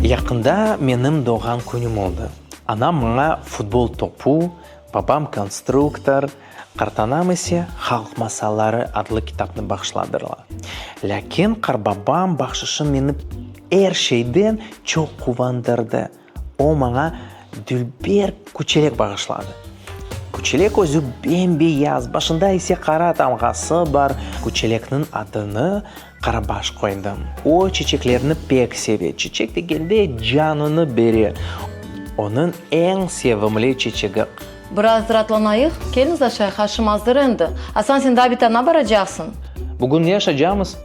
Yaqında menim doğğan künüm oldı. Anam maña futbol topu, babam konstruktor, qartanam ise Halq masalları adlı kitapnı bağışladırlar. Lâkin qarbabam bağışışı meni er şeyden çoq quvandırdı. O maña dülber küçelek bağışladı. Küçelek özü bem-beyaz, başında ise qara tamğası bar. Küçelekniñ adını Qarabaş qoydım. O çeçeklerni pek seve, çeçek degende canını bere. Onıñ eñ sevimli çeçegi. Biraz raatlanayıq, kelniz aşayıq, aşım azır endi. Asan, sen Dabitanna baracaqsıñ. Bugün ne aşacamız?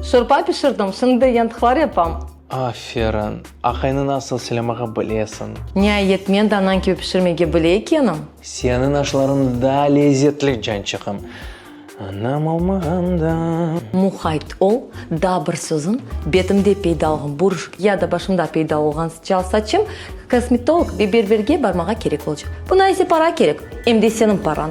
Şorba pişirdim, şimdi yantıqlar yapam. Aferin! Aqayni nasıl silemağa bilesiñ? Niayet, men de anañ kibi pişirmege bile ekenim! Seniñ aşlarıñ daa lezzetli, cançığım! Anam olmağan da. Muhayt ol, daa bir sözüm, betimde peyda olğan buruşk ya da başımda peyda olğan sıçal saçım kosmetolog ve berberge barmağa kerek olcaq. Buna ise para kerek, em de seniñ parañ.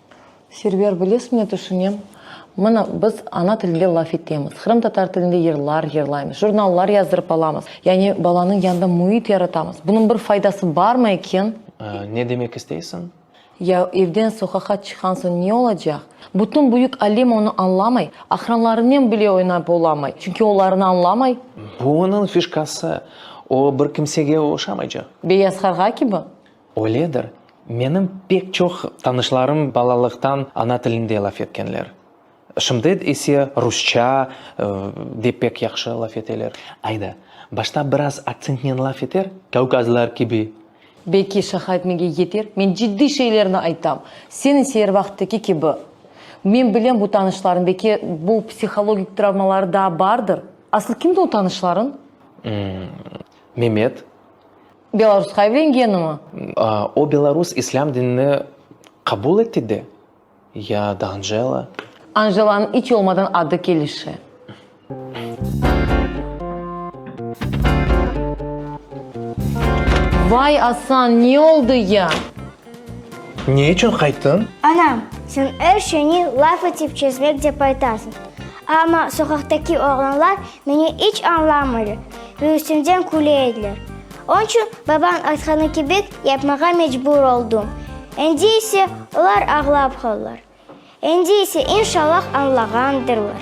Server, bilesiñ, ne tüşünem? Mına, biz ana tilinde laf etemiz, qırımtatar tilinde yırlar yırlaymız, jurnallar yazdırıp alamız, yani balanıñ yanında müit yaratamız. Bunıñ bir faydası barmı eken? Ne demek isteysiñ? Ya evden soqaqa çıqqan soñ ne olacaq? Bütün büyük alem onı añlamay, aqranlarınen bile oynap olamay, çünki olarnı añlamay. Bu onıñ fişkası, o bir kimsege oşamaycaq. Beyaz qarğa kibi? Öyledir, menim pek çoq tanışlarım balalıqtan ana tilinde laf etkenler. Şimdi ise rusça de pek yahşı laf eteler. Ayda, başta biraz aktsentnen laf eter, kavkazlar kibi. Belki şaha etmege yeter. Men ciddiy şeylerni aytam. Sen ise er vaqıttaki kibi. Men bilem bu tanışlarıñ, belki bu psihologik travmaları daa bardır. Aslı kimdi o tanışlarıñ? Memet. Belarusqa evlengenimi? O belarus islâm dinini qabul etti de, ya da Anjela? Anjelanıñ iç olmadan adı kelişi. Vay, Asan, ne oldı ya? Ne içün qayttıñ? Anam, sen er şeyni laf etip çezmek dep aytasıñ. Amma soqaqtaki oğlanlar meni iç añlamırlar ve üstümden küle ediler. Onıñ içün babañ aytqanı kibik yapmağa mecbur oldım. Endi ise olar ağlap qaldılar. Endi ise, inşallah, añlağandırlar.